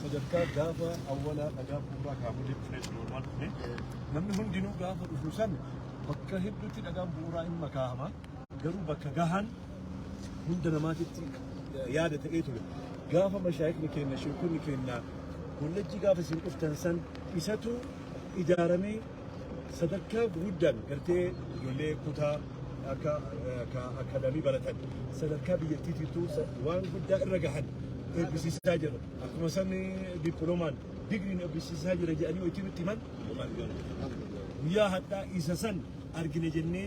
sadarkaa gaafa awwalaa dhagaa bu'uuraa kaafamee dhufee jiru waan ta'e namni hundinuu gaafa dhufu san bakka hedduutti dhagaan bu'uuraa hin makaa'ama garuu bakka gahaan hunda namaatitti yaada ta'ee ture gaafa mashaayikni keenya sheekonni keenya kollejjii gaafa isin dhuftan san isatu ijaaramee sadarkaa guguddaan gartee ijoollee kutaa akka akkaadaamii baratan sadarkaa biyyattiitiittuu waan guddaa irra gahan eebbisiisaa jira. Akkuma sabni dippiloomaan digriin eebbisiisaa jira jedhanii hojii nutti himan guyyaa hadhaa isa san argine jennee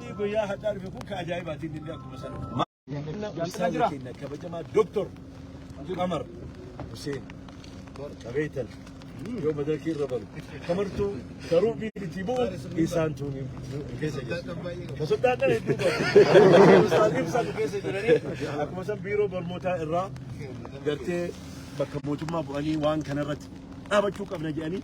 Inni guyyaa hadhaa dhufe kun ka ajaa'ibaati inni illee akkuma sana. Maqaa Ustaaza keenya kabajamaa Doktor Qamar Huseen Qabeetal yoo madarakii irra baru kamartuu karuu biitii bu'u isaan tuun keessa jira. Ka sodaadhaan hedduu qabu. Ustaaziin isaan keessa jiranii akkuma san biiroo barnootaa irraa gartee bakka mootummaa bu'anii waan kanarratti dhaabachuu qabna jedhanii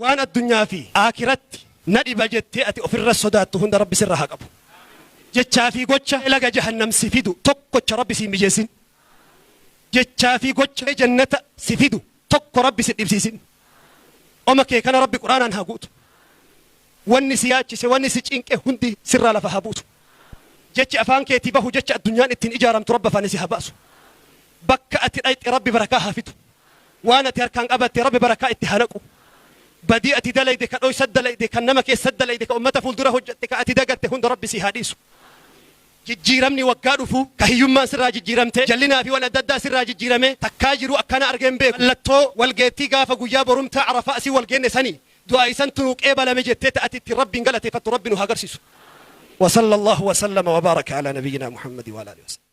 Waan addunyaa fi Aakhiratti na dhiba jettee ati ofirra sodaattu hunda Rabbi sirra haa qabu. Jechaa fi gocha laga Jahannam si fidu tokkocha Rabbi si hin mijeessin. Jechaa fi gocha Jannata si fidu tokko Rabbi si dhibsiisin. Oma kee kana Rabbi Qur'aanaan haa guutu. Wanni si yaachise, wanni si cinqe hundi sirraa lafa haa buusu. Jechi afaan keetii bahu jecha addunyaan ittiin ijaaramtu Rabbi afaanii si haa baasu. Bakka ati dhayxe Rabbi barakaa haa fidu. Waan ati harkaan qabatte Rabbi barakaa itti haa naqu. Badii ati dalayde, ka dhoysat dalayde, kan nama keessat dalayde, ka ummata fuuldura hojjatte, ka ati dagatte hunda Rabbi sii haa dhiisu. Jijjiiramni waggaa dhufu, ka hiyyummaan sirraa jijjiiramte, jallinaa fi wan adda addaa sirraa jijjiiramee, takkaa jiruu akkanaa argee hin beeku. Mallattoo wal geettii gaafa guyyaa borumtaa Arafaa asiin wal geenne sani. Du'aayi santu nuu qeebalame jettee ta ati ittiin Rabbiin galateeffattu Rabbi nu haa garsiisu. Wa salla Allaahu wa sallama wa baaraka alaa nabiyyinaa Muhammadi wa alaa aalihi wa sahbihi.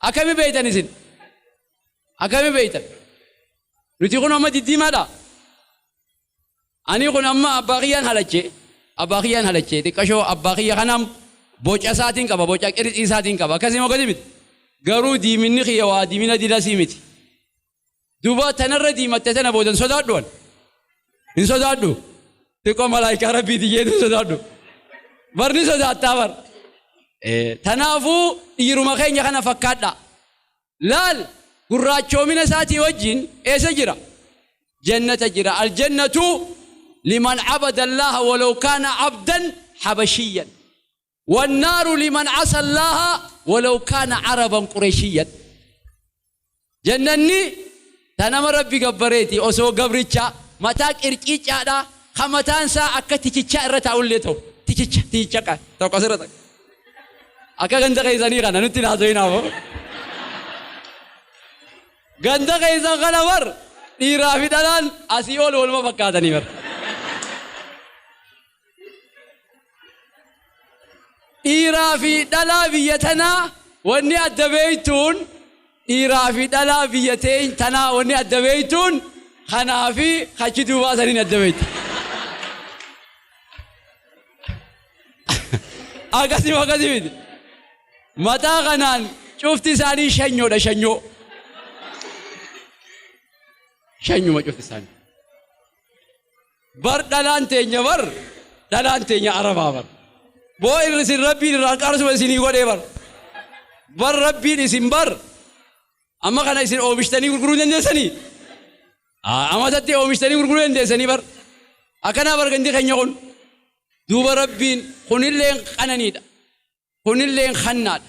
Akkami beektan isin? Akkami beektan? Nuti kun amma diddiimaadha. Ani kun amma abbaa kiyyaan halache. Abbaa kiyyaan halache. Xiqqashoo abbaa kiyya kanaan boca isaatiin qaba. Boca qirixii isaatiin qaba. Akkasii moo akkasii miti? Garuu diiminni kiyya waa diimina dilasii miti. Duuba tanarra diimatte tana booda hin sodaadhu an. Hin sodaadhu. Xiqqoo malaayikaa rabbiiti jeetu hin sodaadhu. Bar ni sodaattaa bar. Tanaafuu dhiiruma keenya kana fakkaadha. Laal gurraachoomina isaatii wajjin eessa jira? Jannata jira. Aljannatu liman abada Allaha walaw kaana abdan habashiyyan. Wannaaru liman asallaaha walaw kaana araban qureshiyyan. Jannanni ta nama Rabbi gabbareeti osoo gabricha mataa qirciiccaadhaa ka mataan isaa akka tikichaa irra taa'ullee ta'u. Tikicha, tikicha ka tokko asirra takka. Akka ganda keessanii kana nutti hin haasawinaa moo. Ganda keessan kana bar dhiiraa fi dhalaan asii ol waluma fakkaatanii bar. dhiiraa fi dhalaa biyya tanaa wanni adda beeytuun dhiiraa fi dhalaa biyya teeny tanaa wanni adda beeytuun kanaa fi kachi duubaa saniin adda beeyta. Akkasii akkasii miti. Mataa kanaan cufti isaanii shanyoodha shanyoo. Shanyuma cufti isaanii. bar dhalaan teenya bar dhalaan teenya arabaa bar boo irra isin rabbiin irraa qaarsuma isinii godhee bar bar rabbiin isin bar amma kana isin oomishtanii gurguruu dandeessanii Aa, amatatti oomishtanii gurguruu dandeessanii bar akkanaa bar gandi keenya kun duuba rabbiin kunilleen qananiidha kunilleen hannaadha